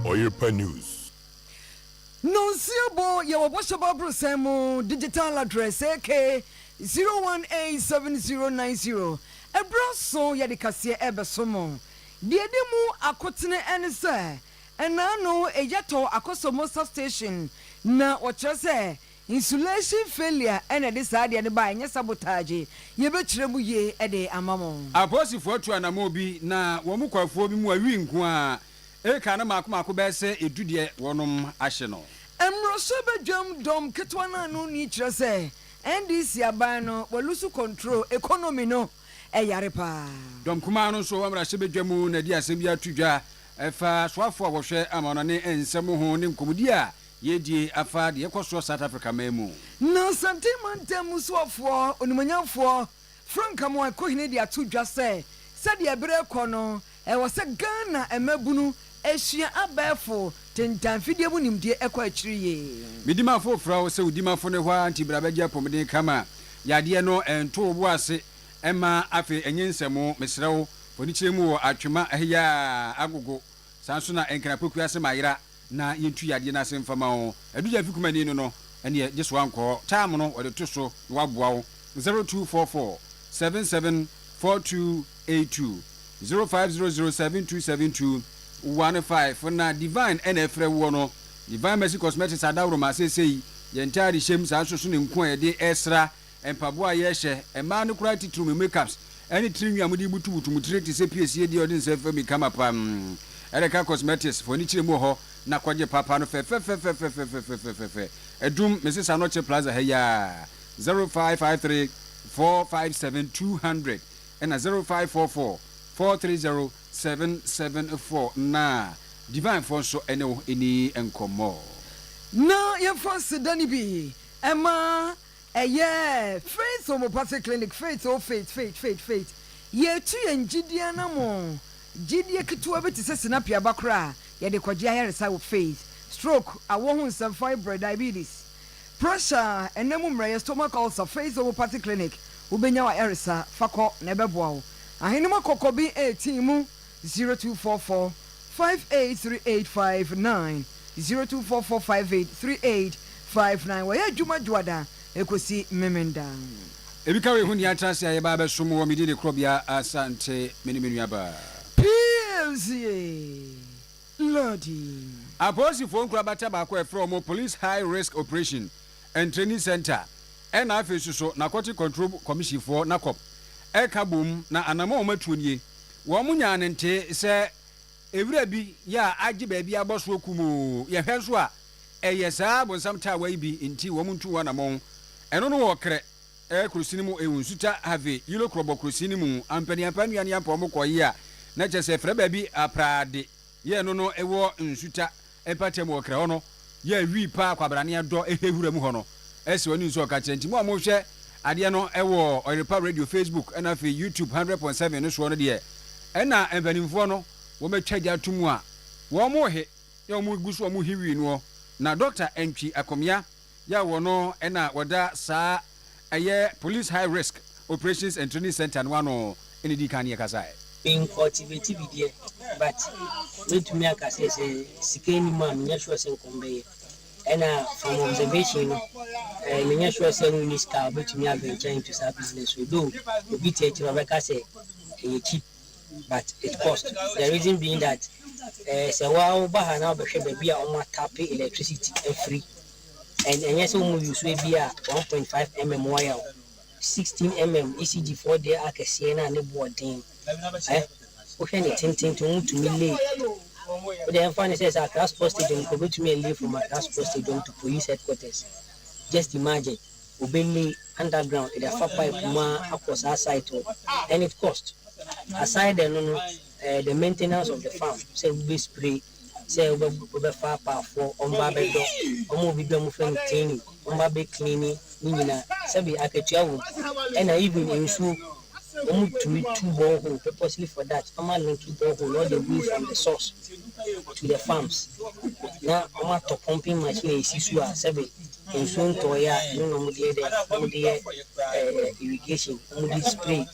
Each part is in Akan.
Ɔyerpa News. Nonsia Bo yɛ wɔ bɔhyɛ ba abrosɛn mu digital address aka zero one eight seven zero nine zero ɛberɛ aso yɛde kaseɛ ɛrebɛso mo deɛ ɛdi mu akotene ɛne sɛ ɛnaa no ɛyɛ tɔ akɔsɔ mosa station na wɔkyerɛ sɛ Insulation failure na ɛde saa adeɛ no baeɛ, ɛnyɛ sabotage. Yɛbɛkyerɛ mu yie de ama mo. Apolisifoɔ atu anammɔn bi na wɔn kɔ afuo bi mu a wii nko ara. Eka no mmaako mmaako bɛyɛ sɛ edu deɛ wɔnom ahye no. Mmoroso badwam dɔm ketewa no ano nni kyerɛ sɛ NDC aban no wɔ lusu control economy no ɛyare paa. Dɔm kumaa no nso wɔ mmarahyɛ badwa mu na ɛde asɛm bi ato dwa ɛfa soafoɔ a wɔhwɛ amammerɛ ne nsɛm ho ne nkɔmmɔdi a Yiedie afa deɛ ɛkɔ soɔ South Africa man mu. Na Asante mantam mu soɔfoɔ onimuonyamfoɔ Frank Amoah Kohinne de ato dwa sɛ, sɛdeɛ bere rekɔ no, ɛwɔ sɛ Ghana mmabunu sua abɛɛfo tentanfidie mu nimdeɛ ɛkɔ akyiri yie. Me dimafo frɛ wo sɛ wo dimafo ne hɔ ara nti bra bɛgye apɔmuden ka ma yadeɛ no nto wo bo ase mma afei ɛnyɛ nsɛmo mesrɛ wo fanikyerɛ mu wɔ atwema heyaa agogo saa nso na nkran pokuase ma ayera na yɛntu yadeɛ no ase mfa ma wo, Adugya fi kumani no no, ɛneɛ gye soa nkɔ time no wɔde to so na waboa wo, 0244 77 4282, 0500 7272 15 na Divine ɛna ɛfrɛ woɔ no, Divine Mercy Cosmetics Adaworoma, seesei yɛn ntaade hyɛm saa nso so ne nku a yɛde ɛsra Mpaboa a yɛhyɛ, mmaa no koraa titiriw mo makeups ne tiri nwi a mode rebutubutu mo tiri te sɛ piesie deɛ ɔde nsa fam ka ma paa mm. Erika Cosmetics fo ani kyerɛ mu wɔ hɔ na kɔgye papa no fɛfɛfɛfɛfɛfɛfɛfɛfɛfɛfɛ adum mese saa no ɔkyere plaza ha yi aa 0553 457 200 ɛna 0544 430 774 na Divine foɔ nso ne wo nni nkɔmmɔ. Na yɛmfa aseda no bi mma Ɛyɛɛ Faith Homeopathic Clinic, Faith, oh, Faith, Faith, Faith, Faith, Yɛretu yɛn gyidie anammɔn, gyidie ketewa bi te sɛ sinapi aba koraa a yɛde kɔgye ayaresa wɔ Faith, Stroke, Awɔ ho nsɛm, Fibroid, Diabetes, Pressure, Ɛnam mu mmerɛyɛ, Stomach Ulcer, Faith Homeopathic Clinic, Wobɛnya w'ayaresa, fa kɔ na ɛbɛboa wo. Ahenemma kɔkɔ bi reteam. zero two four four five eight three eight five nine zero two four four five eight three eight five nine Wɔyɛ adwuma Dwoada kosi Memenda. Ebika wei ho nea tra ase a yɛba abɛsom wɔ me din de korɔbea Asante me ne me nua baa. Plz loading. Apolisifoɔ nkorabata baako a yɛfrɛ wɔn Police High Risk Operation and Training Centre ɛna afei nso so Narcotic Control Commission foɔ, NACOP, ɛka boom na anamɔ a wɔatuo nie. Wɔn nyaa no ntee sɛ ɛwira bi yɛ a agye baabi abɔ soɔ kumoo. Yɛhwɛ nso a ɛyɛ saa bonsam taawa yi bi nti wɔn ntu ho anamɔn. Ɛno no wɔ Krɛ kurosini mu ewu Nsuta Havi Yilo Krɔbɔ kurosini mu ampaniampa nnuane ampa wɔn kɔɔye a na kyerɛ sɛ ɛfrɛ baabi aprade. Yɛ no no wɔ nsuta mpatam wɔ krɛ hɔ no yɛ wii paa kwabrane ɛdɔ ɛhɛ hura mu hɔ no ɛsɛ ɔne nsu ɔka kyerɛ nti mo a mo hwɛ adeɛ no ɛwɔ ɔyerepa radio facebook ɛna afei youtube hundred point seven no soɔ no deɛ ɛna mpanimfoɔ no wɔn atwa gya ato mu a wɔn he na wɔn gu so wɔn he wii noɔ na doctor ɛntwi akomea Yaw wɔ no na wɔda saa ɛyɛ Police High Risk Operations and Training Centre no ano ne dii kan ne yɛkasae. Mencultivate bi deɛ but mɛtumi aka sɛ sɛ sika nni mu a menyɛ sure sɛ nkɔm bɛyɛ ɛna from observation no ɛɛ menyɛ sure sɛ wonni sika a wobɛtumi aventure into saa business no though obi tiatia ɔbɛka sɛ ɛyɛ cheap. but it cost the reason being that eh sɛ wa wo ba ha na wo bɛ hwɛ baabi a wɔn atape electricity afiri and ɛnyɛ sɛ wɔn use ebi a one point five mm wire o sixteen mm ECG foɔ deɛ akɛseɛ na ne boɔ den eh wo hwɛ ne tenten nti wɔn tumi lay wo deɛ ɛnfa ne sɛ sɛ Accra sports stadium nka obetumi ɛlay from Accra sports stadium to police headquarters just imagine. Obenne underground de afa pipe mu ara akɔ saa site hɔ and it cost aside the no no eh the maintenance of the farm sɛ wo bɛ spray sɛ wo bɛ wo bɛ fa apaafoɔ wɔn ba bɛ dɔ wɔn obi bi a wɔn frɛ no cleaning wɔn ba bɛ cleani ne nyinaa sɛbi akatua wɔ mu ɛna even nsuo Wɔn tumi tu borehole purposely for that, wɔn a linki borehole all the way from the source to the farms na wɔn atɔ pumping machine a esi so a sɛbe nsuo ntɔɔeɛ a ɛno na wɔn de yɛ dɛ wɔn de yɛ ɛɛ irrigation wɔn de spray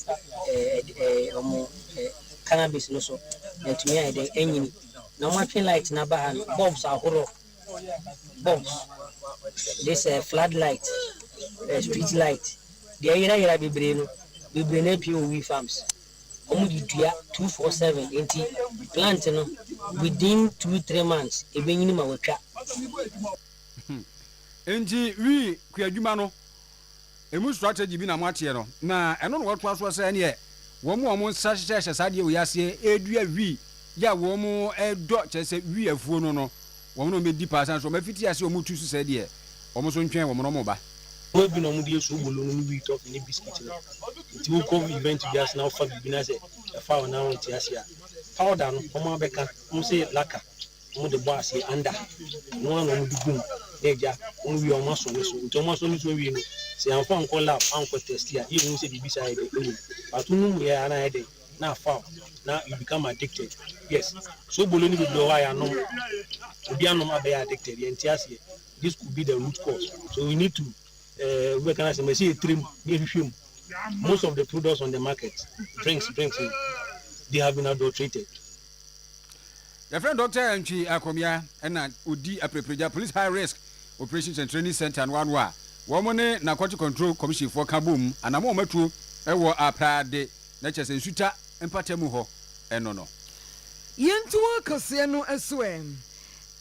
ɛɛ ɛɛ wɔn ɛɛ cannabis no so na ɛtumi ayɛ dɛ ɛnyini na wɔn atwe light na aba ha no bulbs ahorow. Bulbs, this eh, flood light, eh, street light, deɛ yerayera bebree no, bebree no apue wɔ wheat farms. Wɔn de dua two four seven nti plant no within two three months ebenyini ma watwa. Enti wheat kuadwuma no, Emu strategy bi na moateɛ no. Na ɛno na wɔtoa soɔ sɛ ɛneɛ wɔn a wɔn nsa hyehyɛ hyɛ saa adeɛ wei aseɛ ɛredua wii yɛ a wɔn ɛredɔ kyerɛ sɛ wii afuo no no wɔn na wɔn bɛdi paa sane sɛ wɔn afiti aseɛ wɔn retu so sɛ deɛ wɔn nso ntwɛn wɔn na wɔn reba. Boy bi na wɔn de yɛ soobolo no ne wii tɔfe ne biscuit no. Nti wo kɔ event bi ase na wo fa biribi na sɛ ɛfa wo na wonte aseɛ a powder no wɔn abɛka wɔn se lacquer. Wɔn de bɔ aseɛ anda ɛno ara na wɔn de gu mu na agya wɔn wie a wɔn asɔ ne so nti wɔn asɔ ne so wie no sɛ yɛn amfa ankɔ lab ankɔ test a yɛn hu sɛ biribi saa yɛ dɛn ɛwɔ mu but wo nom yɛ a na ayɛ dɛn na afaw na you become addicted yes sobolo ne bebree wɔ hɔ a yɛanom obi anom abɛyɛ addicted yɛn te aseɛ this could be the root cause so we need to eh, wobɛka no asɛm ɛsɛ yɛtire mu ne yɛhwehwɛ mu most of the products on the market drinks drinks they have been adulterated Yɛfrɛ no Dɔkta Antwi Akomya na odi Apirepiregya Police High Risk Operations and Training Centre no ano a wɔn ne Narcotic Control Commission foɔ ka bom anammɔn matuo wɔ Aprade na kyerɛ sɛ Nsuta mpatamu hɔ no no. Yɛn tuo kɛseɛ no nso ɛ?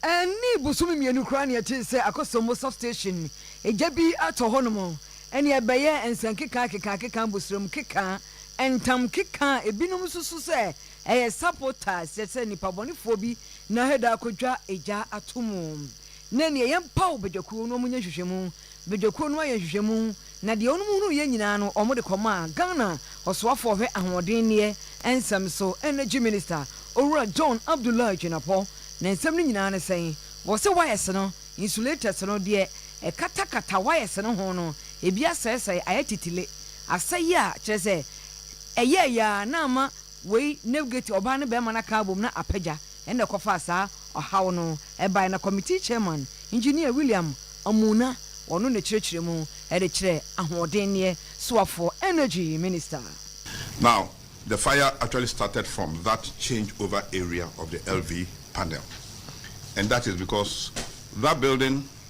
Ɛnni bosome mmienu koraa na yɛtee sɛ Akosombo Substation gya bi atɔ hɔnom na ɛbɛyɛɛ nsɛnkeka kekaakeka, boserɛm keka, ntam keka a ebinom susu sɛ Ɛyɛ sapo taa sɛ sɛ nipabɔnefoɔ bi na heda akɔdwa egya ato mu na ɛneɛ yɛn paw badwakuo na wɔn nyɛ nhwehwɛmu, badwakuo no ayɛ nhwehwɛmu na deɛ wɔnom hunuu yɛ nyinaa no wɔn de kɔmaa Ghana ɔsoafoɔ ɔhwɛ ahoɔdenneɛ nsɛm so Energy Minister Owura John Abdullahi Jinapɔ na nsɛm no nyinaa ne sɛn wɔ se wires no insulators no deɛ ɛkatakata wires no ho no ebi asɛesɛe ayɛ titile asɛe a kyerɛ sɛ Ɛyɛɛ yɛ ara na ama wei navigate ɔbaa ne barima no aka abom na apagya ɛna ɛkɔfaa saa ɔhaw no ɛbae na committee chairman Engineer William Amuna ɔno ne kyerɛkyerɛ mu ɛde kyerɛ ahoɔdenneɛ soafoɔ energy minister. Now the fire actually started from that change over area of the LV panel and that is because that building.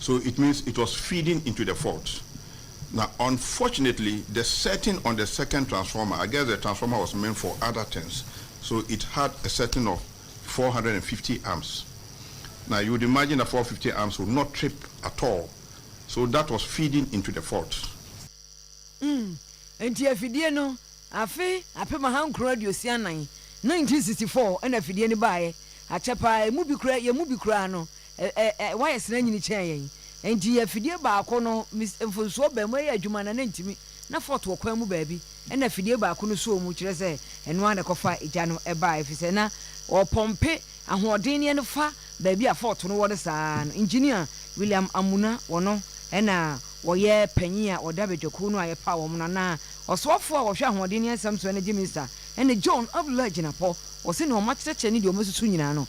so it means it was feeding into the fault na unfortunately the setting on the second transformer I guess the transformer was meant for other things so it had a setting of 450 amps na you would imagine that 450 amps would not trip at all so that was feeding into the fault. Mm, enti afidie no afe apem ahankron aduosia nnan, 1964, ɛna afidie no baeɛ. Akyɛ paa, ɛmu bi koraa, yɛn mu bi koraa no, Ɛ ɛ ɛ Wayɛ sena nyini kyɛn yɛn. Enti yɛ afidie baako no mis mfonsoɔ bɛn mu ɛyɛ adwuma na na ɛntumi, na fɔɔt wɔ kwan mu baabi ɛna afidie baako no sɔɔ mu, kyerɛ sɛ ɛno ara na ɛkɔfa egya no baeɛ ɛfiri sɛ na ɔrepɔmpe ahoɔden no ɛno fa baabi a fɔɔt no wɔ no saa ara no. Engineer William Amuna wɔno ɛna wɔyɛ panyin a ɔda badwakuo no a yɛpaw wɔn no anaa ɔsoafoɔ a wɔhwɛ ahoɔden ne nsɛm so ɛna gye Mister ɛna John Abdullahi Jinapɔ wɔ sɛdeɛ wɔakyerɛkyerɛ ne deɛ wɔasusu nyinaa no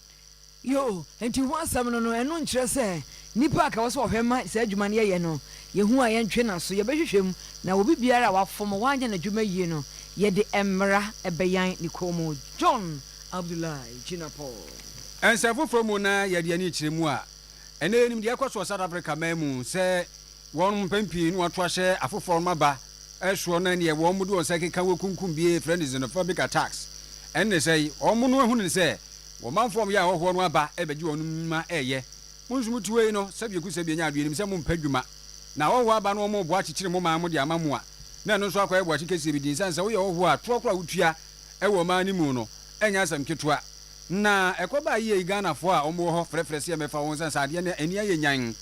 Yoo, enti ho asɛm no no, ɛno nkyerɛ sɛ nnipa a ka wɔ sɛ wɔhwɛ ma saa adwuma no yɛyɛ no, yɛ hu a yɛntwe n'aso, yɛbɛhwehwɛ mu, na obi biara a wafom, wanyɛ n'adwuma yie no, yɛde mmara bɛyan ne kɔn mu. John Abdullahi Jinapor. Nsɛm foforɔ mu na yɛde yɛn ani kyerɛ mu a, ɛnnɛ yɛnim deɛ ɛrekɔ so wɔ South Africa man mu sɛ Wɔnom mpɛn pii no wɔto ahyɛ afoforɔ nom aba soɔ na neɛ wɔnom de wɔn nsa keka wɔ kunkum bie frɛ no xenophobic attacks ɛnne sɛ yi wɔnom ahunu no sɛ wɔmanfoɔ wɔyɛ ahɔhoɔ no aba rebɛgye wɔnom nnwuma reyɛ mo nso mote wei no sɛbio ku sɛbio nya adwenem sɛ mompɛ dwuma na ahɔhoɔ aba no wɔnom reboa kyekyere mo man mo de ama mo a na ɛno nso akɔyɛ boakye kɛseɛ bi nti nsiane sɛ woyɛ hɔhoɔ a toɔ koro a wotua wɔ ɔman no mu no ɛnyɛ asɛm ketewa Na ɛkɔ baa yie yi Ghanafoɔ a wɔwɔ hɔ frɛfrɛ sɛ yɛmmɛfa wɔn ɛsiane sɛ adeɛ no ani ayɛ nyan.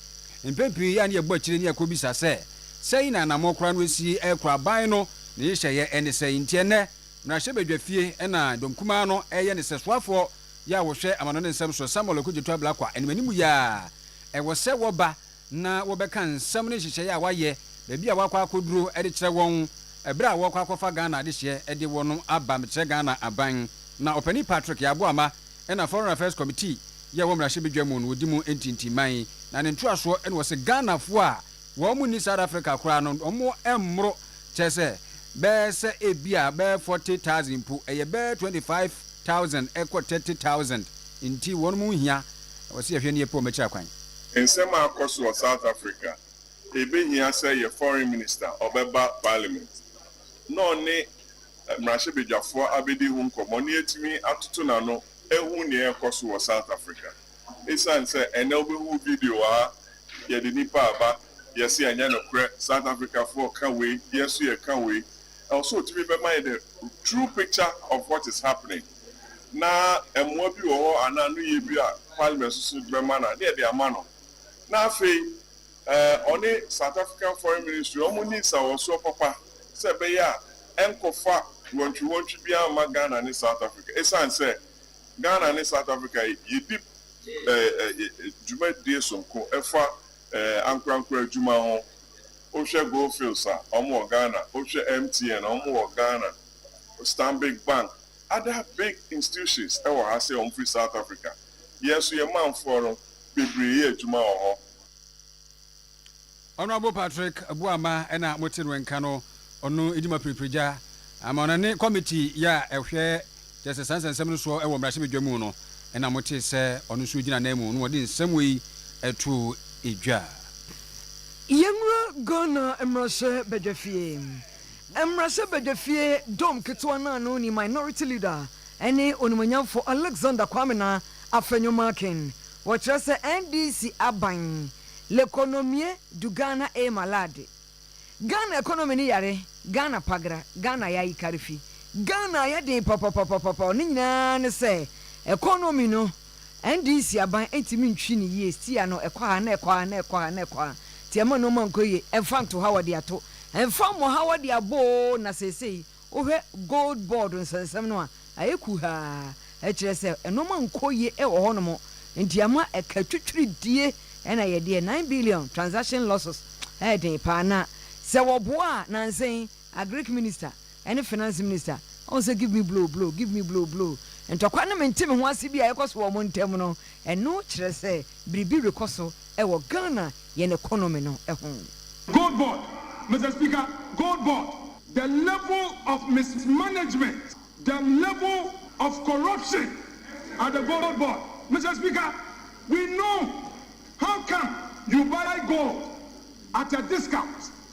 Mpɛn pii yɛ a na yɛbɔ akyire ne yɛkɔbisa sɛ, sɛn na anammɔn koraa no asi rekɔ, aban no ne nhyehyɛeɛ ne sɛn? Nti ɛnnɛ, mmarahyɛbadwafie na dɔm kumaa no reyɛ ne sɛsoafoɔ yɛ a wɔhwɛ amanɔne nsɛm so, Samuel Okudzeto Ablakwa, animanimu yɛ a ɛwɔ sɛ wɔba na wɔbɛka nsɛm ne nhyehyɛeɛ a wɔayɛ, baabi a wɔakɔ akɔduro de kyerɛ wɔn berɛ a wɔrekɔ akɔfa Ghana adehyeɛ de wɔnom aba mekyerɛ Ghana aban. Na Ɔpanin Patrick Yaboama na Foreign Affairs Committee yi a wɔ mmarahyɛbadwa mu no ɔdi mu ntintiman, na ne ntoasoɔ na ɔse Ghanafoɔ a wɔn nni South Africa koraa no wɔn mmoro kyerɛ sɛ bɛyɛ sɛ ebia bɛyɛ forty thousand mpo ɛyɛ bɛyɛ twenty five thousand ɛkɔ thirty thousand nti wɔnom nhia na wɔse yɛhwɛ ne yɛpɛ wɔn akyiri akwan. Nsɛm a akɔ so wɔ South Africa, Ebehia sɛ yɛ foreign minister ɔbɛba parliament na ɔne mmarahyɛbadwafoɔ abɛdi ho nkɔmmɔ na yɛatumi atoto n'ano ahu nea ɛrekɔ so wɔ South Africa. Esiane sɛ ɛnnɛ wobɛhu video a yɛde nnipa aba, yɛse ɛnyɛ nokorɛ, South Africafoɔ ka wei, yɛn nso yɛka wei, ɛwɔ sɛ wotumi bɛma yɛn the true picture of what is happening. na mmoa bi wɔ hɔ anaa anoyie bi a parliament soso de bɛma no a, ne yɛde ama no. Na afei eh, ɔne South African Foreign Ministry, wɔn nni nsawɔsoɔ papa sɛ ɛbɛyɛ a ɛnkɔfa wɔntwe-wɔntwe biara mma Ghana ne South Africa, ɛsiane sɛ Ghana ne South Africa yi, yɛdi eh, eh, eh, dwumadie sonko ɛfa eh, ankorankora adwuma ho. Wohwɛ Goldfields a, wɔn wɔ Ghana. Wohwɛ MTN, wɔn wɔ Ghana. Stanbic Bank, Other big institutions wɔ ha sɛ wɔfiri South Africa. Yɛn nso yɛn manfoɔ no bebree yɛ adwuma wɔ hɔ. Honourable Patrick Boamah ɛna mo te no nka no, ɔno di ma piripirigya ama ɔno ne committee yi a ɛhwɛ kyerɛ sɛ saa nsɛnsɛm no soɔ wɔ mmarahyɛ badwa mu no ɛna mo te sɛ ɔno nso gyina nan mu na ɔde nsɛm wei to dwa. Yɛnwura Ghana mmarahyɛ badwafie. Mmarahyɛbadwa fie dɔm ketewa no ano ni Minority Leader ne Onimuonyamfo Alexander Kwame Naa Afenyo-Markin. Wɔkyerɛ sɛ NDC aban L'economie du Ghana est malade, Ghana economy no yare, Ghana pagra, Ghana yayi karefi, Ghana ayɛ den papapapapapao ne nyinaa ne sɛ economy no, NDC aban ntumi ntwi no yie stia no ɛkɔ ha na ɛkɔ ha na ɛkɔ ha na ɛkɔ ha nti ɛma nnoɔma nkɔ yie ɛmfa nto ha wɔde ato ɛmfa mmɔ ha wɔde abɔ oo na seesei wohwɛ gold board nsɛnsɛm no a ayɛ kuhaa ɛkyerɛ sɛ nnoɔma nkɔ yie ɛwɔ hɔ nom nti ama ɛka atwitwiridie ɛna yɛdeɛ nine billion transaction losses ɛyɛ den paa na sɛ wɔboa a nansa yi agric minister ɛne Finance Minister ɔhu sɛ give me blow blow give me blow blow ntɔkwa ne mente me ho ase bi a ɛkɔ so wɔ wɔn ntam no, ɛno kyerɛ sɛ biribi rekɔ so wɔ Ghana yɛn economy no ho. Gold board, Mister Speaker, gold board. The level of mismanagement, the level of corruption at the gold board, Mister Speaker, we know how come you buy gold at a discount?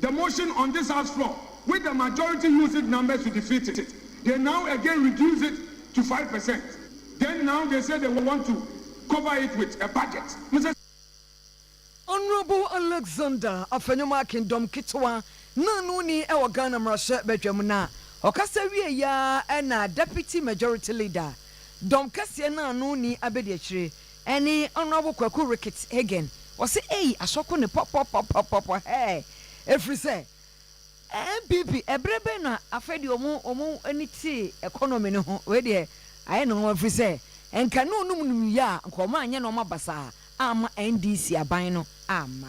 The motion on this house floor which the majority used its numbers to defeat it they now again reduce it to five percent then now they say they want to cover it with a budget mo sɛ. Honourable Alexander Afenyo-Markin Akindom Ketewa na ano ni wɔ Ghana Mmarahyɛ Badwam na ɔkasa wiei ara na Deputy Majority Leader Dɔm Kɛseɛ na ano ni Abedi Akyire Ɛne Honourable Kwaku Ricketts Hagen, ɔse ei asɔko ne pɔpɔpɔpɔpɔpɔ hɛɛ ɛfiri sɛ NPP ɛberɛ bɛn na afei deɛ ɔmo ɔmo ani tee economy no ho, wei deɛ ayɛ no nwanwa firi sɛ nka ɛne ɔnom nim yɛ a nka ɔmo anyɛ nnoɔma basaa amma NDC aban no amma.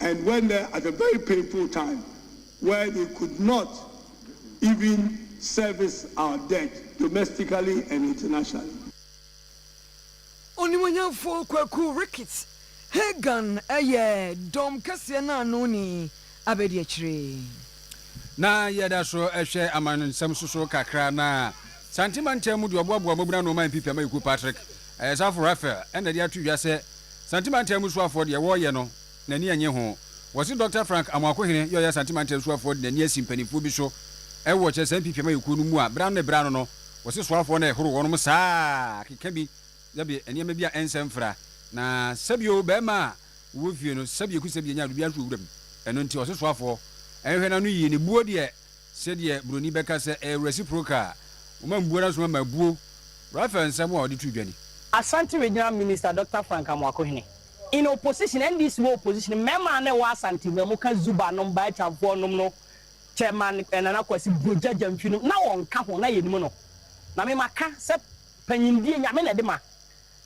and went there at a very painful time where they could not even service our debt domestically and internationally. Onimuonyamfoɔ Kwaku Ricketts Hagan yɛ dɔm kɛseɛ no ano ni abadiakyire. Na yɛda so hwɛ amansɛm so so kakra na Santee mantam mu deɛ ɔboaboa mmabunu ano ɔman pp ama yɛkuo Patrick Ayesafo Raphael ɛna de ato dwa sɛ Santi Mantam mu suafoɔ deɛ wɔɔyɛ no n'ani ɛnye ho. Wɔse Dɔkta Frank Amoakohene yɛ ɔyɛ Asanti Mantam suafoɔ de n'ani asi mpaninfoɔ bi so ɛwɔ kyerɛ saa mpiapia mayɛkuo no mu a berɛ ano ne berɛ ano no wɔse suafoɔ no ɛhoro wɔnom saa keka bi yɛbe nneɛma bi a ɛnsɛ mfra na sɛbio bɛɛma a wɔwɔ fie no sɛbie ku sɛbie nya adubiara nso wɔ wuram ɛno nti ɔse suafoɔ ɛnhwɛ n'ano yie ne buo deɛ Sɛdeɛ Buroni bɛka sɛ ɛyɛ reciprocal a, wɔma mbuo na nso wɔma abuo. Raphael nsɛm a ɔde too dwa ni. Asante Regional Minister Doctor Frank Amoakohene, in opposition, NDC wɔ opposition, Mmarima a na ɛwɔ Asante no a wɔka Zuba nom, Baechamfoɔ nom no, Chairman Nana Kwasi Brogya Gyamfi nom, na wɔnka ho, na yɛnim no. Na me maka sɛ panyindie Nyame na ɛde ma.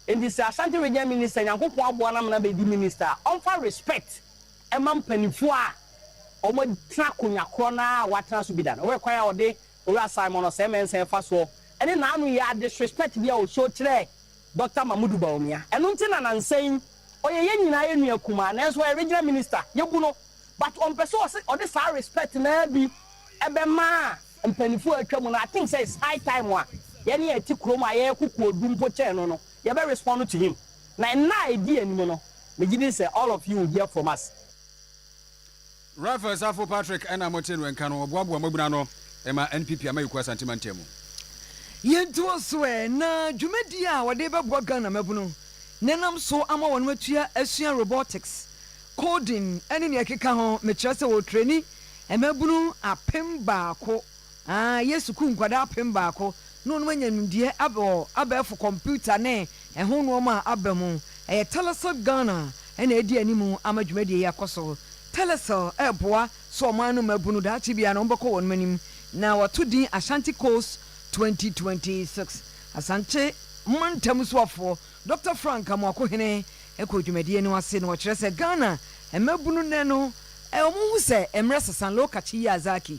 Enti sɛ Asante Region Minister, Nyankopɔn aboa no ama no abɛdi Minister a, ɔmfa respect ma mpanyimfo a wɔatena akonnwa korɔ no ara a wɔatena so bi da. Hwɛ kwan a wɔde Owura Simon Osei Mensah fa soɔ ne n'ano yɛ a disrespect bi a wɔshow kyerɛɛ Doctor Mamodu Bawumia. Ɛno nti na nansa yi ɔyɛ yɛn nyinaa yɛn nua kumaa nanso ɔyɛ Regional Minister, yɛbu no but ɔmpɛ sɛ ɔse ɔde saa respect no ara bi bɛma mpanyimfo a atwa mu no. I think sɛ it's high time a yɛn a yɛte kurom a yɛyɛ kokoɔduru mpo kyɛn no no, yɛbɛ respond to him. Na nna a edi anim no, megye di sɛ all of you will hear from us. Ralph Asafo Patrick ɛna mo te no nka no ɔboaboa mmabunu ano ma NPP Amayikuo Asante Mantamu. Yɛntoa so ɛ, na dwumadie a wɔde bɛboa Ghana mmabunu na ɛnam so ama wɔn atua asua robotics, coding ɛne nea ɛkeka ho, mekyerɛ sɛ wɔretrɛni mmabunu apem baako Aane, yɛ sukuu nkwadaa apem baako na wɔnom anya nimdeɛ ab wɔ abɛɛfo kɔmputa ne ɛho nnoɔma a aba mu. Ɛyɛ Telecel Ghana na adi anim ama dwumadie yi akɔ so. Telecel reboa so ɔman no mmabunu daakye biara na wɔbɛkɔ wɔnom anim na wɔato din Ashanti Coast 2026. Asankye mantam soafoɔ Dɔkta Frank Amoakohene kɔɔ dwumadie no ase na ɔkyerɛ sɛ Ghana mmabunu nnɛ no wɔn ho sɛ mmerɛ sesa Lokacz Yiazaki.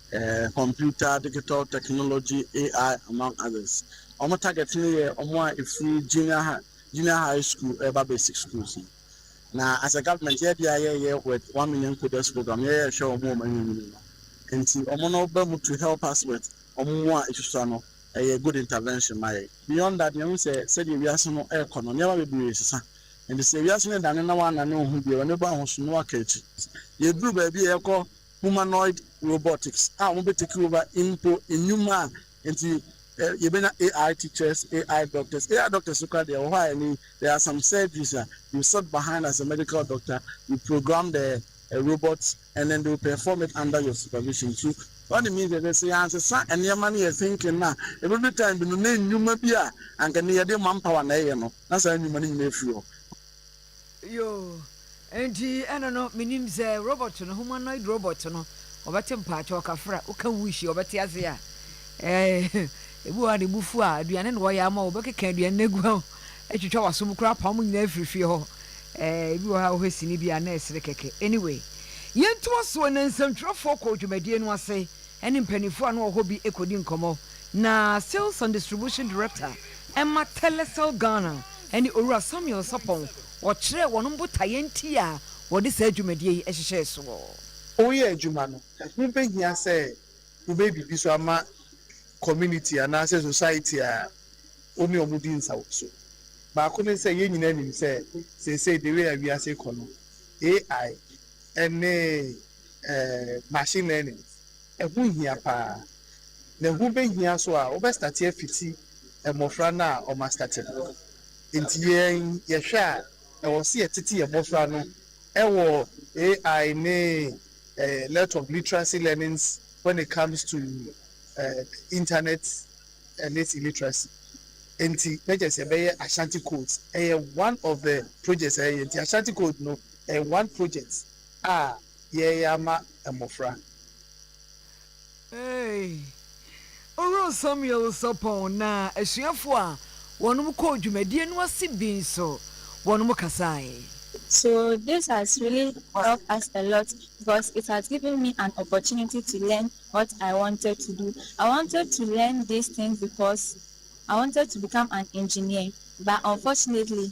Computer, Digital Technology, AI among others. Wɔn target no yɛ wɔn a ɛfiri junior high, junior high school ɛreba basic schools no. Na as a government yɛ deɛ yɛyɛ with one million coders program yɛyɛ hwɛ wɔn a wɔn ayɛ nyini no. Nti wɔn no ba mu to help us with wɔn mu a ɛsusua no ɛyɛ good intervention ma yɛn. Beyond that yɛhu sɛ sɛdeɛ wiase no ɛrekɔ no nneɛma bebree resesa. Nti sɛ wiase no dane na wannane wo ho bio, w'ani bɔ ahosu na woaka akyi. Yɛduru baabi a yɛkɔ. humanoid robotics a wɔbɛ take over mpo nnwuma a nti yɛbɛnya AI teachers, AI doctors, AI doctors no koraa deɛ ɛwɔ hɔ a ɛne there are some surgeries a you sit behind as a medical doctor you program the robot and then they will perform it under your supervision so what it means is that sɛ yɛansesa nneɛma no yɛ thinking no a ɛbɛdu time bi no na nnwuma bi a anka ne yɛde manpower na ɛyɛ no na saa nnwuma no nyinaa afiri hɔ. Yoo enti ɛno no menim sɛ robot no humanoid robot no ɔbɛte mpakyɛw kafra woka whoosh a ɔbɛte ase a ɛɛ ebi wɔ hɔ a ne bo fu a aduane na ɔyɛ ama wo ɔbɛkeka aduane no agu ho atwitwa w'aso mu koraa apam mo nyinaa afiri fie hɔ ɛɛ ebi wɔ hɔ a wohwɛ sini bi a na ɛsere kɛkɛ anyway yɛntoa so na nsɛntwerɛfoɔ kɔɔ dwumadie no ase ɛne mpanimfoɔ a na wɔhɔ bi kɔdi nkɔmmɔ na sales and distribution director ɛma telecel ghana ɛne Owura Samuel Sapong wɔkyerɛɛ wɔn botaeɛ nti a wɔde saa dwumadie yi hyehyɛɛ soɔ. Woyɛ adwuma no, ɛho bɛhia sɛ wobɛyɛ biribi nso ama community anaasɛ society a wo ne wɔn di nsawɔso. Baako ne sɛ, yɛn nyinaa nim sɛ seesei the way a wiase rekɔ no, AI ne. machine learning ɛho hia paa na ɛho bɛhia nso a wobɛ starte afiti mmɔfra no a wɔn astate no nti yɛn yɛhwɛ a ɛwɔ sɛ yɛtete yɛn mmɔfra no ɛwɔ AI ne lot of literacy learnings when it comes to internet and its illiteracy nti mɛkyɛ sɛ ɛbɛyɛ Ashanti codes ɛyɛ one of the projects ɛyɛ nti Ashanti code no ɛyɛ one project a yɛreyɛ ama mmofra. Ee, Owura Samuel Sarpong na asuafo a wɔnom kɔɔ dwumadie no ase bi nso wɔnom kasaeɛ. So this has really helped us a lot because it has given me an opportunity to learn what I wanted to do. I wanted to learn this thing because I wanted to become an engineer but unfortunately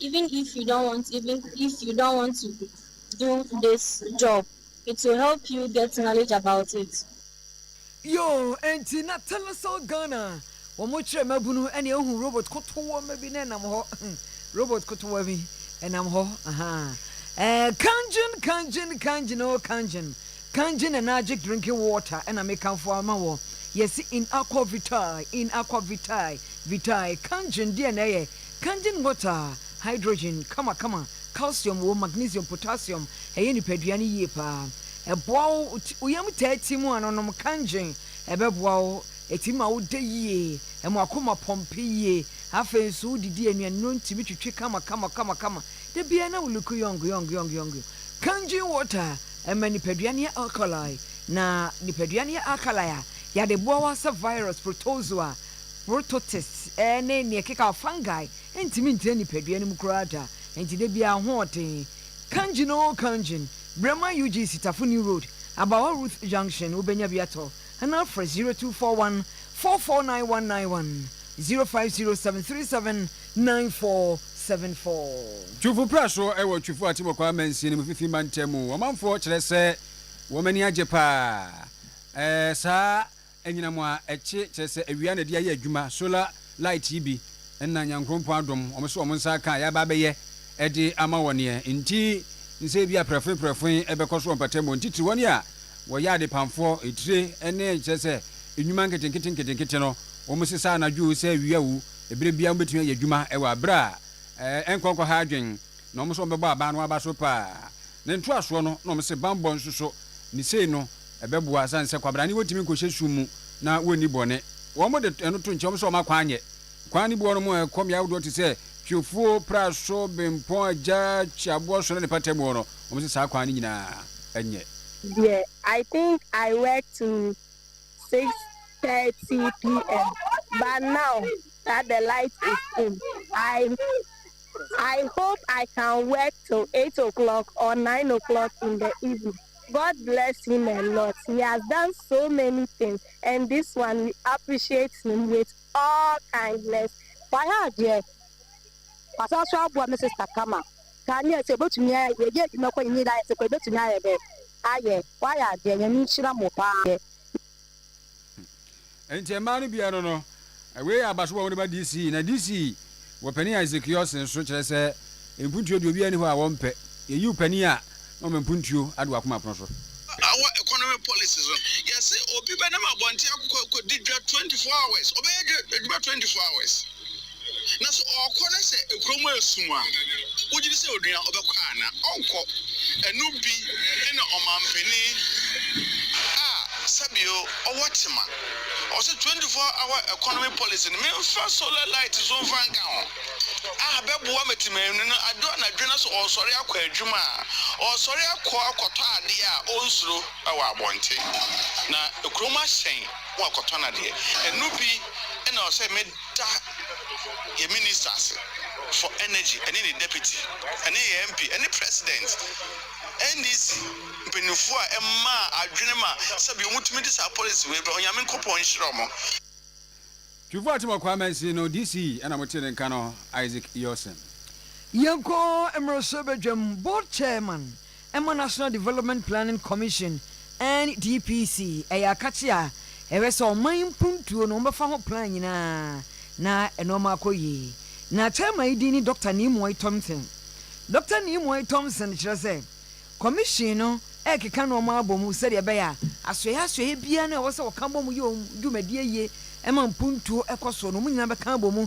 Even if you don't want even if you don't want to do this job it will help you get knowledge about it. Yoo ɛnti na Telecel Ghana wɔn kyerɛ mmabunu ɛna ehu robot kotowɔma bi na ɛnam hɔ robot kotowa bi ɛnam hɔ ahaa ɛɛ Kangyen Kangyen Kangyen oo Kangyen Kangyen ɛna agye drinking water ɛna me kanfo ama wɔ yɛsi in aqua vitae in aqua vitae vitae Kangyen deɛ na ɛyɛ Kangying botaa, hydrogen, kamakama, calcium wom, magnesium, potassium, ɛyɛ nipadua no yie paa, ɛboa wo, wo yam taa ti mu a no nom kangying, ɛbɛboa wo, ɛtumi ma wo da yie, ɛma w'akoma pɔmpe yie, afei nso wo didi a nnuanuro ntumi twitwi kama kama kama kama, da biara na wo look young young young young young, kangying water ɛma nipadua no yɛ alkali, na nipadua no yɛ alkali a, yade boa wo asɛ virus, protozoa, Prototists ne nea ɛkekaw fungi ntumi ntena nipadua no mu koraa da, enti da biara ahoɔden. Kangying oo Kangying, Braman UG Sitafo New Road, Abawa Ruth Junction, wobenya bi atɔ anaa frɛ 0241 449191, 0507 37 9474. Twufo pra so wɔ Twufo Atibɔkɔ amansin mu fifi mantam mu. Ɔmanfoɔ kyerɛ sɛ wɔn ani agye paa. Ɛɛ saa Anyinam a ɛkye, kyerɛ sɛ awia na ɛde ayɛ adwuma, solar light yi bi na Nyankrompɔn adom wɔn sɛ wɔn nsa aka a yɛaba abɛyɛ de ama wɔn neɛ nti ne sɛ ebia prɛfoe prɛfoe ɛbɛkɔ so wɔ mpatamu hɔ, ntitiri wɔn a wɔyɛ adepamfoɔ, etire ne kyerɛ sɛ nnwuma nketenkete nketenkete no wɔn sesa anadwo sɛ awia o, ɛberɛ biara wɔn bɛtumi ayɛ adwuma wɔ aberɛ a ɛnkɔ nkɔha adwen Na wɔn nso wɔbɛbɔ aban no aba so paa. Ne ntoasoɔ no, na wɔse banbɔ nso so, ne sei no, ɛbɛboa asiane sɛ kwabrane wɔntumi nkɔhyɛ sum mu na wɔnni bɔne. Wɔn de ɛno to nkyɛn, wɔn nso wɔn akwan nyɛ. Kwan no bi wɔ hɔnom a ɛkɔ mmeae ahodoɔ te sɛ, Twiofuo, Praso, Bempɔn Agya, Kyiaboɔso ne ne patamuo no, wɔn se saa kwan no nyinaa nyɛ. Deɛ I think I work till six thirty PM but now that the light is in I. I hope I can work till eight o'clock or nine o'clock in the evening God bless him a lot he has done so many things and this one we appreciate him with all kindness. Wayɛ adeɛ. Wasan so aboa me sister kama. Kaneɛ sɛ yɛbɛtumi ayɛ yɛyɛ adwuma kɔ yɛn nyinaa yɛte kɔ yɛbɛtumi ayɛ dɛn ayɛ. Wayɛ adeɛ Nyame nhyira mo paa. Enti mmaa no biara no, wei yɛ abaso a wɔde ba DC, na DC wɔ panin a Ezekiel sen so, kyerɛ sɛ, mpuntuo deɛ obiara nni hɔ a wɔmpɛ. Yɛyiw panin a, na wɔma mpuntuo ado wakoma pono so. Our economy policies no, yɛse obi bɛnam abɔnten akɔ akɔdi dwa twenty four hours, ɔbɛyɛ adwuma twenty four hours. Na sɛ ɔkɔ na sɛ kuro mu yɛ sum a, wogye di sɛ onua ɔbɛkɔ ana? Ɔnkɔ. Ɛno bi na ɔmanpanin a sɛbio ɔwɔ tema. Ɔwɔ sɛ twenty four hour economy policy no memfa solar light nso mfa nka ho a bɛboa ma timanwini no adwo anadwo na sɛ ɔresɔre akɔ adwuma a, ɔresɔre akɔ akɔtɔ adeɛ a ɔnsuro wɔ abɔnten. Na kurom ahyɛn, wakɔtɔ n'adeɛ. Ɛno bi na ɔwɔ sɛ me. Da yɛn Ministers for Energy ɛne ne Deputy ɛne yɛn MP ɛne President NDC mpaninfoɔ a ɛmaa adwene ma sɛbi wɔn tumi de saa policy wei ba Onyame Nkopɔn nhyira wɔn. Twifo Atimor Kwaa Mansin no DC ɛna mo tee ne nka no Isaac Yorson. Yɛnkɔ mmarahyɛbadwam, Board Chairman ɛma National Development Planning Commission, NDPC, ɛyɛ akakye a ɛhwɛ sɛ ɔman mpuntuo no wɔbɛfa ho plan nyinaa na nnoɔma akɔ yie. Na chairman yi din ne Dɔkta Nimoy Thompson. Dɔkta Nimoy Thompson kyerɛ sɛ Commission no rekeka nnoɔma abɔ mu sɛdeɛ ɛbɛyɛ a asoɛeɛ asoɛeɛ biara no a ɛwɔ sɛ wɔka bɔ mu yɛ wɔn dwumadie yie ma mpuntuo kɔ soɔ no wɔn nyinaa bɛka abɔ mu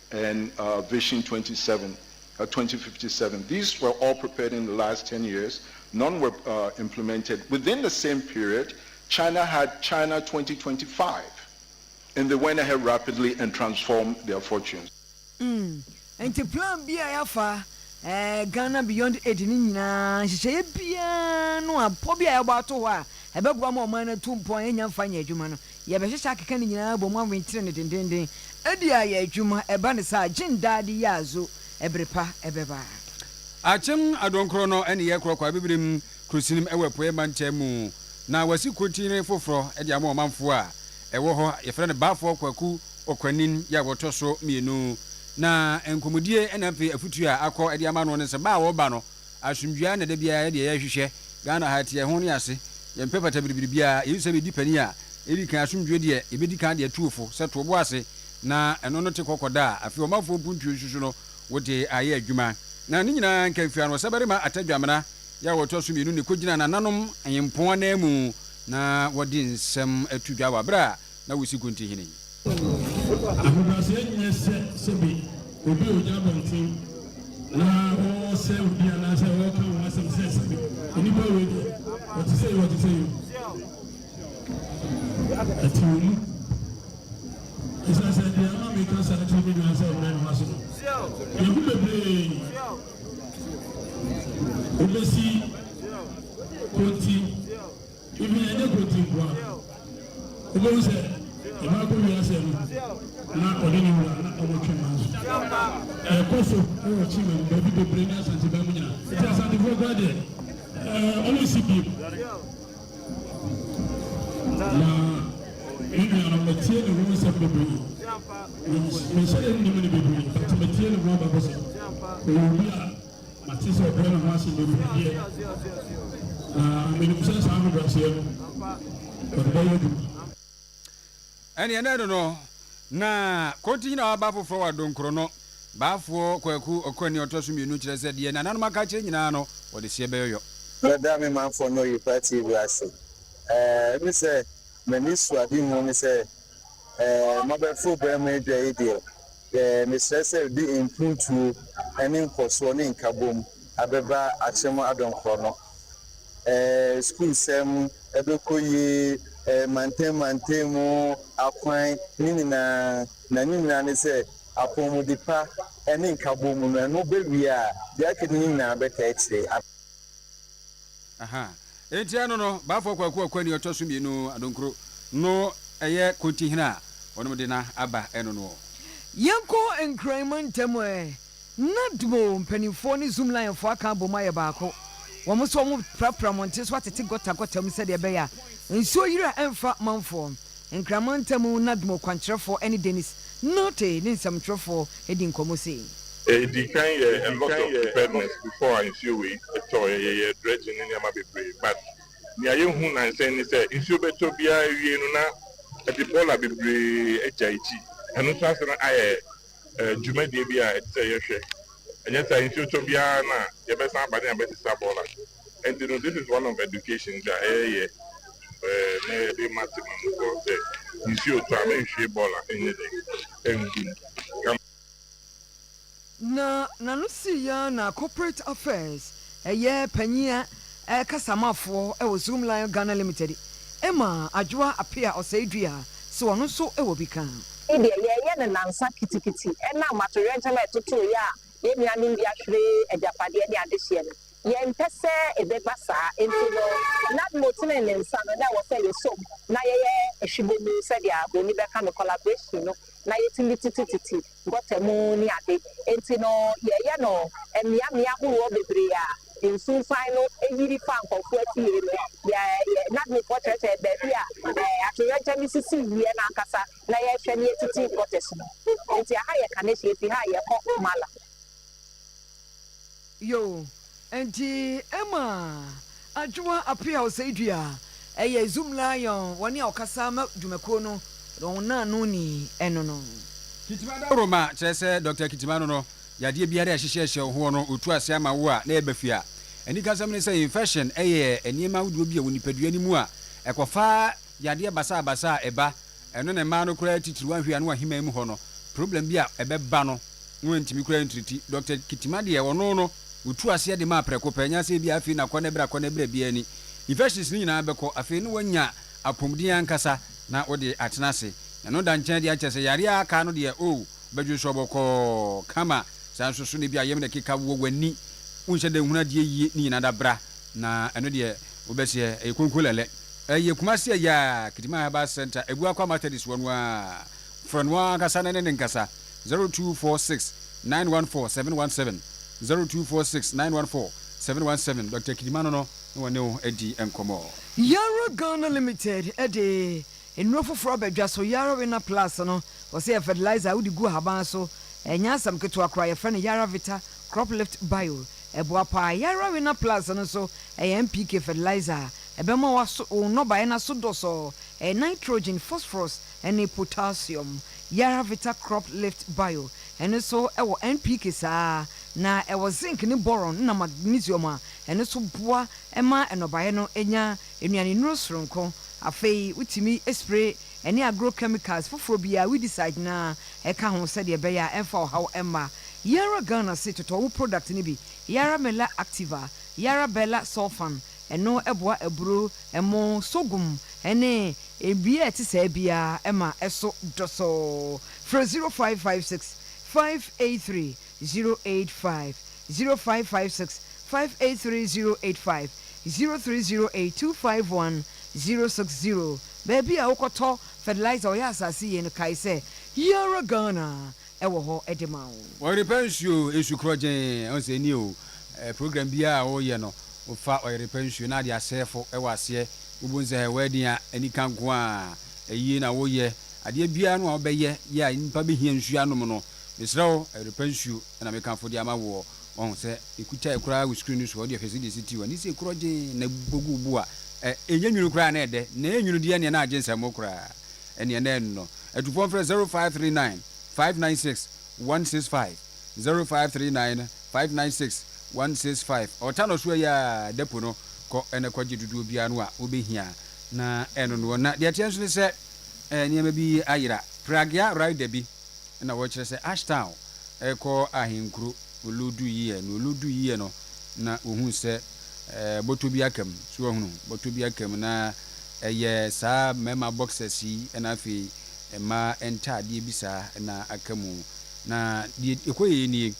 and uh, Vision 27, uh, 2057. These were all prepared in the last 10 years. None were uh, implemented. Within the same period, China had China 2025, and they went ahead rapidly and transformed their fortunes. Mm. nti plan bi a yɛafa eh, ghana beyond aid no nyinaa nhyehyɛeɛ biara no a pɔ bi a yɛbɔ ato hɔ a ɛbɛboa ma ɔman no atu mpɔn a yɛnya mfa nyɛ adwuma no Yɛbɛhyehyɛ akeka ne nyinaa abom awenkyere no dendeenden de ayɛ adwuma. Ɛba no saa a, gye ndaa de yɛ azo, ɛbere pa bɛba. Akyem Adonkorɔ no ne yɛ korɔ Kwaa Bibirem Kurosinm wɔ Apueɛ Mantam mu na wasi Kurotinne foforɔ de ama ɔmanfoɔ a ɛwɔ hɔ. Yɛfrɛ no Baafoɔ Kwaku Okwanin yɛ a wɔtɔ so mmienu na nkɔmudie na afei afutuo a akɔ de ama no ne sɛ baa a wɔba no Asomdwie ara na da biara yɛ deɛ yɛhwehwɛ. Ghana ha ɛteɛ, ɛho ne ase. Yɛmpɛ fatabiribiri biara. Yesu sɛ bɛdi panin a, ɛdi kan asomdwie deɛ yɛbɛdi kan de atu wo fo sɛ to wo bo ase na ɛno no te kɔkɔ daa. Afei ɔmanfoɔ mpuntuo nso so no, wode ayɛ adwuma. Na ne nyinaa nka mfiri ano. Ɔsabarima Atadwamena yɛ a ɔtɔ so mmienu na ɛkɔgyina nananom nyempɔn ananmu na wɔde nsɛm to dwa wɔ berɛ a na wosi gu nti hene. Ahobrɛaseɛ nyɛ sɛ sɛbe obi ɔgya abɔnten na ɔresɛe obi anaasɛ ɔreka ho asɛm sɛ sɛbe nnipa wei deɛ ɔte sɛ yi ɔte sɛ yi ɛte wɔ mu ɛsiane sɛ deɛ ama meka saa tiri me dwan sɛ mmerɛ noma so no yɛhu bebree wobɛsi konti Even ɛnyɛ Kontee nkoa. Wobɛhu sɛ ɛba kɔ wiase no na ɔne ne wura na ɔmo twe ma nso. Ɛkɔ so wɔ Kyima mu baabi bebree ne Asante bɛn mu nyina. Nti Asantefoɔ koraa deɛ ɛɛ ɔmo nsi biem. Na me nuanom metie ne ho nsɛm bebree. Menhyɛ ɛnnim ne bebree but metie ne ho abakɔsɛm. Ɔyɛ obi a. Mate sɛ ɔbrɛ ne ho ase bebrɛdeɛ, na menim sɛ saa ahobrɛaseɛ no, ɔde bɛyɛ adwuma. Ɛnneɛ na ɛno no, na Kontinyi na waba foforɔ wɔ Adonkoro no. Baafoɔ Kwaku Ɔkɔani a ɔtɔ so mmienu kyerɛ sɛ deɛ nananom aka akyerɛ nyinaa no, wɔde seɛ bɛyɔyɔ. Meda me manfoɔ ne Oyepa TV ase. Ɛne sɛ, m'anisoadehu ne sɛ mabɛforo berɛ mu adwa yi deɛ, Mesrɛ sɛ de mpuntuo ne nkɔsoɔ ne nkabom abɛba akyem adom korɔno. Sukuusɛm bɛkɔ yie, mantam mantam mu akwan ne nyinaa, na ne nyinaa ne sɛ apɔmuden pa ne nkabom no, ɛno bɛwie a deɛ aka no nyinaa bɛtaa akyire. Aha. Enti ano no, Baafoɔ Kwaku Ɔkwani ɔtɔ so mmienu, Adonkro, no ɛyɛ Kontihene a wɔnom de no aba ɛno noɔ. Yɛnkɔ Nkran mu ntɛm ɛ. Na Dmo mpaninfoɔ ne Zoomlinefoɔ aka abom ayɛ baako. Wɔn nso wɔprapra mmɔnten so atete gɔta gɔta mu sɛdeɛ ɛbɛyɛ a nsuo yire a ɛmfa manfoɔ. Nkraman ntam Nadmo kwankyerɛfoɔ ne Denis Norte ne nsɛmtwerɛfoɔ di nkɔmmɔ sei. Edi kan yɛ a lot of preparedness before a nsuo wei tɔɔɛ yɛyɛɛ dredging ne nneɛma bebree but nea yɛhu nansɛ ne sɛ nsuo bɛtɔ biaa awiei no na ɛde bɔɔla bebree agya akyi ɛno nso asane ayɛ dwumadie bi a ɛte sɛ yɛhwɛ ɛnyɛ saa nsuo tɔ biaa na yɛbɛsan aba ne abɛsesa bɔɔla. Enti no, this is one of education dza yɛyɛ na yɛde ma tsemanmufoɔ no sɛ, nsuo tɔ a, menhwie bɔɔl a ɛnyɛ dɛn? ɛngu mu. Ka. Na n'ano sii ya na Corporate Affairs, ɛyɛ panyin a ɛkasa ma foɔ wɔ Zoom Lion Ghana Limited, maa Adwoa Apea Ɔsɛedua sɛ ɔno nso wɔ bi ka. Yei deɛ yɛɛyɛ no nansa kitikiti ɛnam atoyerɛnkyɛm a ɛtotoo yɛ a yɛnnuanom bi ahwere agyapadeɛ ne adehyeɛ no Yɛmpɛ sɛ ɛbɛba saa, enti no, Nadmo tenee ne nsa no, na ɛwɔ sɛ yɛsɔ mu na yɛyɛ hwebɔmu sɛdeɛ buroni bɛka no, collaboration no, na yɛtumi tetetete gɔta mu ne ade. Enti no, yɛyɛ no mmeammea ahoroɔ bebree a nsunsuan no yiri fa nkorɔfoɔ afie no. Yɛ, yɛ, Nadmofoɔ kyerɛkyerɛɛ baabi a ɛɛ, atoyerɛnkyɛm sisi wieɛ no ankasa, na yɛhwɛ na yɛtete gutters mu. Enti aha yɛ Kaneshie, ɛfiri ha a yɛkɔ Mala. Yoh. Enti Emma Adwoa Apeaw Seidua yɛ Zoom Lion wɔ nea ɔkasa ma dwumakuo no na wɔn naano ni ɛno no. Kitima Dawuroma kyerɛ sɛ Dɔkta Kitima no no yadeɛ biara a ɛhyehyɛ hyɛ wo hoɔ no ɔtu ase ama wo a na ɛba fie a. Anikasɛm ne sɛ infection yɛ nneɛma ahodoɔ bi a ɛwɔ nipadua no mu a ɛkɔfa Yadeɛ basabasa a ɛba ɛno na mmaa no koraa titiriw ahwɛ ano aheman mu hɔ no problem bi a ɛbɛba no no antumi koraa antriti Doctor Kitima deɛ ɔno no ɔtu aseɛ de maa prɛko pɛ nyɛ sɛ ebia afei na kɔ na bra kɔ na bra biara ni infections no nyinaa bɛkɔ afei na wanya apɔmuden ankasa na wode atena ase ɛno da nkyɛn deɛ kyerɛ sɛ yareɛ a aka no deɛ oh wobɛdwene so ɔbɔkɔɔ kama saa nso so na ebia yam na ɛkeka wɔ w'ani wonhyɛ da nhunu adeɛ yie ne nyinaa da bra Na ɛno deɛ wobɛseɛ ɛyɛ konkolɛlɛ ɛyɛ kumase ɛyɛ a kitima herbal center ɛgu akwa matadis hɔ no ara frɛ no ankasa na ɛne ne nkasa zero two four six nine one four seven one seven zero two four six nine one four seven one seven Doctor kitima no no na wɔne wo adi nkɔmɔ. Yɛwura Ghana Limited de. Nnuro foforɔ aba dwa so, Yarawinner Plus no, wɔse yɛ fertilizer a wode gu ahaban so, ɛnyɛ asɛm ketewa koraa, yɛfrɛ no Yaravita Crop Lift Bio, ɛboa pa ara. Yarawinner Plus no nso, ɛyɛ NPK fertilizer a ɛbɛma wo aso wo nnɔbaeɛ no aso dɔsɔɔ, ɛyɛ nitrogen, phosphorus ne potassium. Yaravita Crop Lift Bio, ɛno nso wɔ NPK saa ara, na ɛwɔ zinc ne boron na magnesium a ɛno nso boa ma nnɔbaeɛ no nya nnuanennuro soronko. Afei wotumi spray ɛne agro chemicals foforɔ biara, weedicide no ara, ɛka ho sɛdeɛ ɛbɛyɛ a ɛmfa ɔhaw mma. Yɛn ara Ghana se totɔ wo product no bi, Yara Mela Activa, Yara Bella Sulfan, ɛno boa aburo, ɛmo, sorghum ne biribiara a ɛte saa biara ma ɛso dɔsɔɔ. Frɛ 0556 583 zero eight five zero five five six five eight three zero eight five zero three zero eight two five one zero six zero baabi a wokɔtɔ fertilizer ɔyɛ asase yie no kae sɛ Yara Ghana wɔ hɔ de ma wo. Ɔyerepɛ nsuo, nsu korɔgyee, ɔhu sɛ nie o, program biaa a wo yɛ no wo fa ɔyerepɛ nsuo na ade asɛɛfo wɔ aseɛ, wo bu nsɛ hɛ wedding a anika nkoaa, ayie na wo yɛ, adeɛ biaa no a wo bɛ yɛ yɛ a nnipa bɛ hia nsuo anom no, Mesrɛ wo, ɛyere pa nsuo na mekamfo de ama woɔ. Wahu sɛ mekutae koraa wo screen no so, ɔde ɔhwɛ sɛdeɛ ɛsi ti wɔ ne se korɔ gyee na bogu wo bo a ɛ, ɛnyɛ nwunu koraa na ɛdɛ, na ɛyɛ nwunu deɛ ɛneɛ na agye nsɛmmo koraa. Ɛneɛ na ɛnnɔ. Atupɔ mfrɛ 0539 596 165, 0539 596 165, ɔta no so ɛyɛ a, da po no, kɔ na kɔ gye dodoɔ biara no a wo bɛ hia na ɛnonoɔ. Na deɛ ɛteɛ nso ne sɛ, ɛ, nneɛma bi ayera, Pragya Rai Dabi. Nna wɔkyerɛ sɛ Ashtal rekɔ ahenkuro Oloduyiɛ. Na Oloduyiɛ no na ohuu sɛ bɔtɔ bi aka mu. So wahunu? Bɔtɔ bi aka mu. Na ɛyɛ saa mmarima boxers yi na afei mmaa ntaadeɛ bi saa na aka mu. Na deɛ ɛkɔeɛ nie,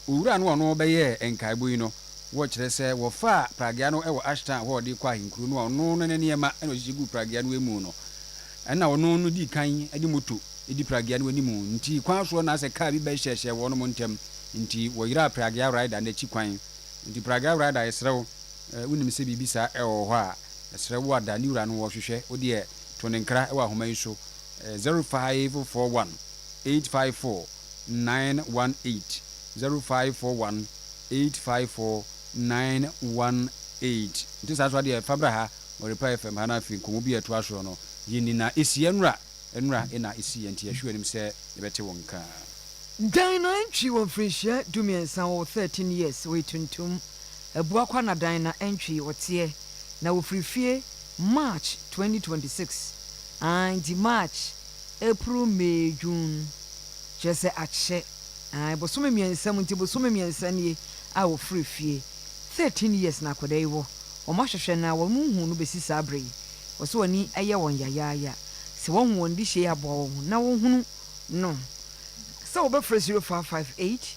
owura no a ɔno ɔbɛyɛɛ nkaebɔ yi no, wɔkyerɛ sɛ wɔfaa pragea no wɔ Ashtal hɔ a ɔde rekɔ ahenkuro no a ɔno ne ne nneɛma na ɔhyehyɛ guu pragea no mu no, Ɛna ɔno no dii kan de moto di Pragya no anim nti kwan soɔ na asɛ kaa bi bɛhyɛɛhyɛɛ wɔnom ntɛm nti wɔyeraa Pragya rider no akyi kwan nti Pragya rider yɛsrɛ wo wonim sɛ biribi saa ɛwɔ hɔ a yɛsrɛ wo ada ne wura no wɔhwehwɛ wo deɛ to ne nkra wɔ ahoma yi so zero five four one eight five four nine one eight zero five four one eight five four nine one eight nti saa so adeɛ fa bra ha. Ɔrepae fam ha na afei nkɔmmɔ bi a ɛtoa so no yɛ ni na esi anura anura na esi yɛ nti yɛhwɛ w'anim sɛ yɛbɛte wo nka. Dan na ntwi wɔ mfirinhyia dumiɛnsa wɔ wo 13 years wɔ etuntum abua kwa na dan na ntwi wɔ teɛ na wɔ firi fie March 2026 aah nti March April May June kyerɛ sɛ akyɛ aah bosome mmiɛnsa mu nti bosome mmiɛnsa nie a wɔ firi fie Thirteen years na akwadaa yi wɔ, wɔn ahwehwɛ no a wɔn nhuu no bɛsi saa berɛ yi. Wɔ sɛ wɔn ani yɛ wɔn yayaaya sɛ wɔahu wɔn de hyei aboa wɔn ho na wɔhunu no. Sɛ wɔbɛfrɛ zero five five eight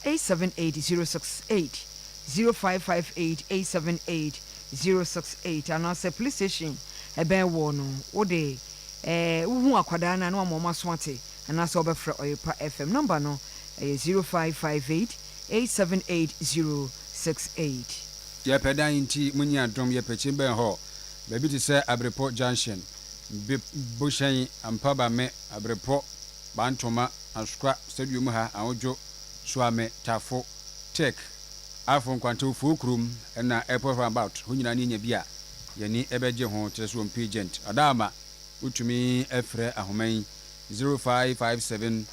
eight seven eight zero six eight, zero five five eight eight seven eight zero six eight, anaa sɛ police station ɛbɛn woɔ no wo de eh, wo hu akwadaa no a na wama wɔn aso ate, anaa sɛ wɔbɛfrɛ Ɔyerepa FM, number no ɛyɛ zero five five eight. eight seven eight zero six eight. Yɛpɛ dan nti mo nyi adom yɛpɛ kyi bɛn hɔ baabi te sɛ abirepɔ junction bep bohyɛn ampabame abirepɔ bantoma asokwa stadium ha ahodwo suame tafo tech afo nkwante ofuo kurom ɛna airport round about hɔ nyinaa ne yɛnya bi a yɛni ɛbɛgye ho kyerɛ sɛ wɔmpɛ agent ɔdaama wotumi ɛfrɛ ahoma yi zero five five seven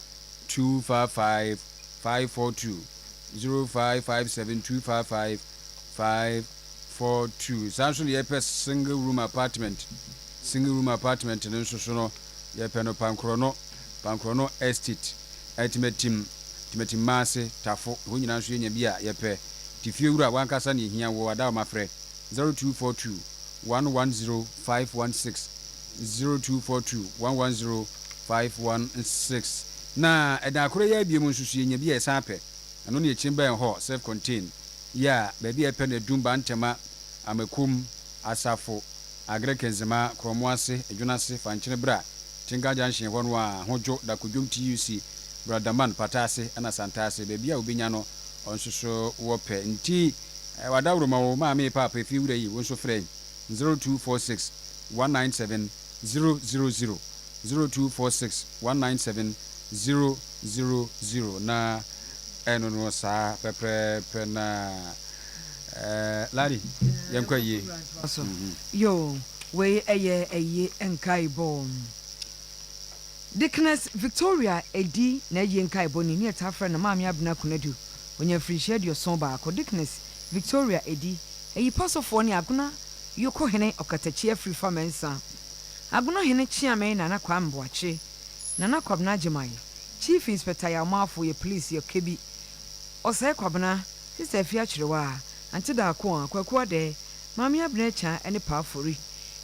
two five five five four two zero five five seven two five five five four two saa nso na yɛpɛ single room apartment single room apartment no nso so no yɛpɛ no Pankorɔno Pankorɔno estate Atimatim Atimatim Maase Tafo hɔ nyinaa nso yɛnya bi a yɛpɛ ti fie wura wankasa na yɛhia wɔ Adaoma frɛ zero two four two one one zero five one six zero two four two one one zero five one six na ɛda akoro yɛ abiem nso so yɛnya bi a ɛsan pɛ ɛno ne ɛkyin bɛn hɔ self contain yɛ a baabi a ɛpɛ no adum bantɛma amakom asafo agere kenzema krɔmo ase edwono ase fankyene bra tinka junction hɔ no a ho dwo dako dwom tuc bradaman pata ase ɛna santa ase baabi a wobɛnya no ɔnso so wɔ pɛ nti wada woro ma wo maame paapa ɛfie wura yi wo nso frɛ zero two four six one nine seven zero zero zero zero two four six one nine seven zero zero zero na ɛno no saa pɛprɛɛpɛ na ɛɛ lari yɛn kɔ yie. Yoo wei ɛyɛ ɛyi nkaebɔ Deaconess Victoria Edi na ɛyi nkaebɔ ni ne yɛtaa frɛ no Maame Abena Konadu onya mfirihyia aduoson baako Deaconess Victoria Edi. Eyi pa so foɔ ne Agona Yoko hene Ɔkatakyi Afirifa Mensah, Agona hene Kyeame Nana Kwame Boakye, Nana Kwabena Agyeman, Chief Inspector Yawmafo yɛ police yɛ Kebi, Ɔsɛe Kwabena, Sister Afie Akyerewaa, Ante Darkoa, Kwaku Adɛɛ, Maame Abena Akyang ne Pa Afori.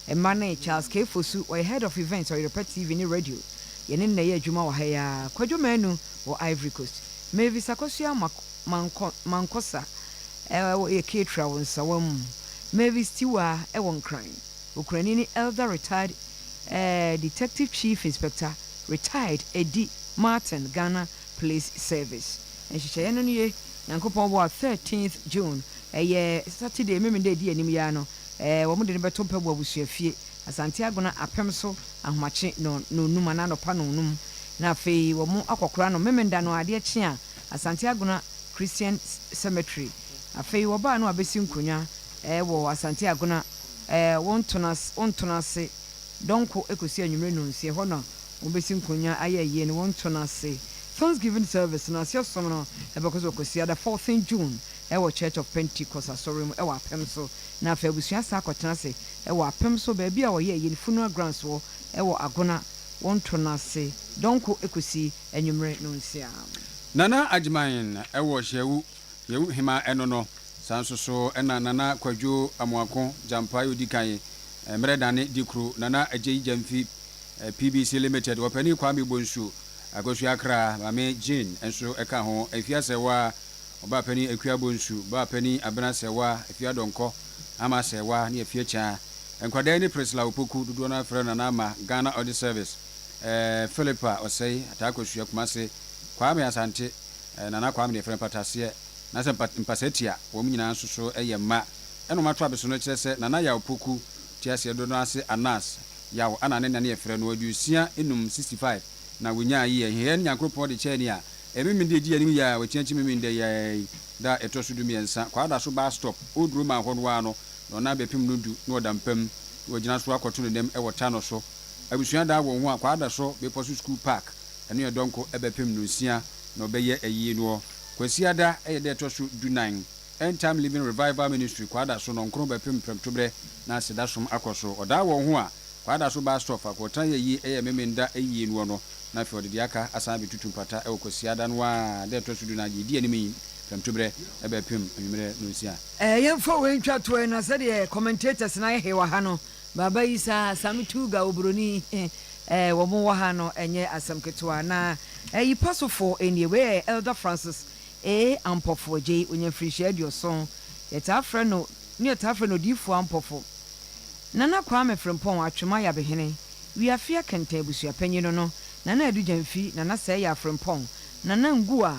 Mma ne Charles K. Fosu, ɔyɛ Head of Events Ɔyerɛpɛ TV ne Radio, yɛne no na ɛyɛ adwuma wɔ ha yi ara, Kwadwo Manu wɔ Ivory Coast, Mavis Akosua Amoako, Mankɔ, mankɔ sa eh, wɔ yɛ Keetra wɔ nsawa mu Mavis Tiwa eh, wɔ Nkran Okurani ne Elder Retired eh, Detective Chief Inspector Retired Edi Martin Ghana Police Service Nhyehyɛeɛ no nie Nyankopɔn bɔ a 13th June Ɛyɛ Saturday Memeneda ɛdi anim yi ara no eh, wɔn de no bɛto Mpaboa Abusuafie Asante Agona Apem so Ahomakye nɔn, nɔnnum anaa anɔpa nɔnnum Na afei wɔn akɔkora no Memeneda no adeɛ kye a Asante Agona Christian Cemetery. Afei wɔbaa no abɛsi nkonnwa wɔ Asante Agona wɔntono ase dɔnko kɔsi anwumerɛ nonsia. Ɛhɔ na wɔbɛsi nkonnwa ayɛ ayie no wɔntono ase. Thanksgiving service no aseɛ som no bɛkɔ so kɔsi ada fourteen June wɔ Church of Pentecost Asɔre mu wɔ Apem so. Na afei abusua asan akɔtena ase wɔ Apem so baabi a wɔyɛ ayie no, Funeral Grounds hɔ wɔ Agona wɔntono ase dɔnko kɔsi anwummere no nsiaa. Nana Agyeman wɔ Hyeawu, Hyeawu Hema no no. Saa nso so na Nana Kwadwo Amoako Gyampae odi kan, Mmerɛ Dane Dikuro, Nana Agyei Gyamfi PBC Limited, Ɔpanin Kwame Bonsu, Akwasu Akra, Maame Jane nso ka ho, Afia Sɛwa, Ɔbaa Panin Akua Bonsu, Baa Panin Abena Sɛwa, Afia Dɔnkɔ, Ama Sɛwa ne Afia Kyaa. Nkwadaa yi ne Priscilla Opoku, dodoɔ no ara frɛ no Nana Ama, Ghana Audit Service. eh, Philip a ɔsɛe, ataa kosua, Kumase, Kwame Asante, eh, Nana Kwame deɛ frɛ mpataseɛ, na sɛ mpa, mpasatia, wɔn nyinaa nso so yɛ mma. Ɛna wɔn ato abesono kyerɛ sɛ Nana Yaw Poku, Teaseɛ Dodo ase Anas, Yaw ana ne nane yɛfrɛ no, aduosia nnum, 65, na wɔnyaa yi ahiahiɛ no Nyankoropɔn de kyɛɛ nea ɛmemene deɛ ɛdi anim yi a wɔakyiakyi memene dɛ yi ara yi, da a ɛtɔ so du mmiɛnsa, Kwadaso bus stop, Old Roman hɔ no ara no na ɔnam bɛpem no du na ɔda mpa mu na wagyina so akɔto ne nam wɔ ta no so. Abusua da wɔn ho a kwaa da so bepɔ so sukuu park ɛno yɛ dɔnko bɛpem no nsia na ɔbɛyɛ ayie noɔ Kwasiada ɛyɛ da ɛtɔ so du nan End Time Living Revival Ministry kwaa da so nɔnkron bɛpem prɛmtoberɛ na aseda som akɔ so ɔdaa wɔn ho a kwaa da so baa stɔɔ faako ɔtena yɛ ayie ɛyɛ memenda ayie noɔ no na afei ɔde deɛ aka asan abɛtutu mpata ɛwɔ kwasiada no ara da ɛtɔ so du nan deɛ ɛdi anim yi prɛmtoberɛ bɛpem anwummerɛ nonsia. Ɛɛ yɛmfa wei ntwa toɔ ɛna sɛdeɛ commentators no ayɛ he wɔ ha no, Baba yi sa Sami Tuga obroni eh wɔn wɔ ha no ɛnyɛ asɛm ketewa na ɛyi pa so fo nie wei yɛ Elder Francis A Ampofo gyei onya mfirinhyia aduoson yɛtaa frɛ no ne yɛtaa frɛ no Odiyifoɔ Ampofo Nana Kwame Frimpong Atwema Yabehene Wiafia Kɛntɛn Abusuapanyin no no Nana Adu Gyamfi Nana Sɛɛyaa Frimpong Nana Nguaa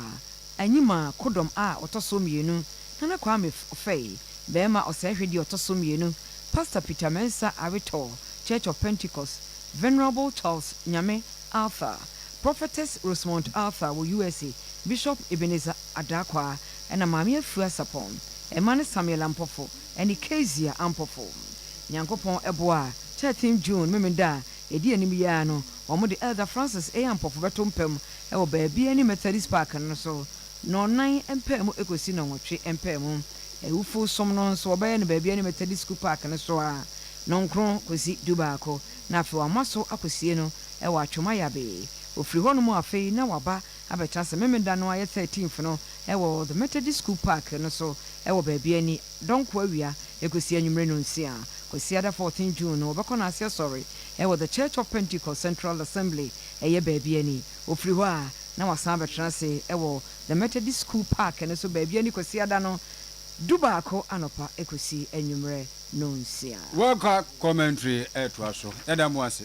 Anyima Kodɔm a ɔtɔ so mmienu Nana Kwame Ofei, barima ɔsɛɛhwɛdi a ɔtɔ so mmienu, Pastor Peter Mensah Aretɔɔ, Church of Pentecost, Venerable Charles Nyame Arthur, Prophetess Rosemont Arthur wɔ USA, Bishop Ebenezer Adaakwaa, ɛna Maame Afua Sapon, mma ne Samuel Ampofo ɛne Kezia Ampofo. Nyankopɔn boa a, thirteen June, Memen'da a ɛdi anim yi ara no, wɔde Elder Francis A. Ampofo bɛto mpam wɔ baabi a ɛne Methodist Park no so, Nnɔnnan mpaamu kosi nnɔnwɔtwe mpaamu. Awufo som no nso, wɔbɛyɛ no baabiara ne Methodist Sukuu Park no so ara, nnɔnkron kosi dubaako, na afei wɔama so akosie no wɔ Atwoma Yabee. Wɔfiri hɔnom afei na wɔaba abɛtra ase Memeneda no a ɛyɛ thirteenth no wɔ The Methodist Sukuu Park no so wɔ baabiara ni, Dɔnko awia kosi anwummere nnɔnsia. Kwasiada fourteenth June no, wɔbɛkɔ no ase asɔre wɔ The Church of Pentecost Central Assembly, ɛyɛ baabiara ni. Ofiri hɔ a, na wasan abɛtena ase wɔ The Methodist School Park no so baabi ani Kwasiada no dubaako anɔpa kosi anwummerɛ nnɔnsia. World Cup Commentary retoa so. Yɛda mo ase.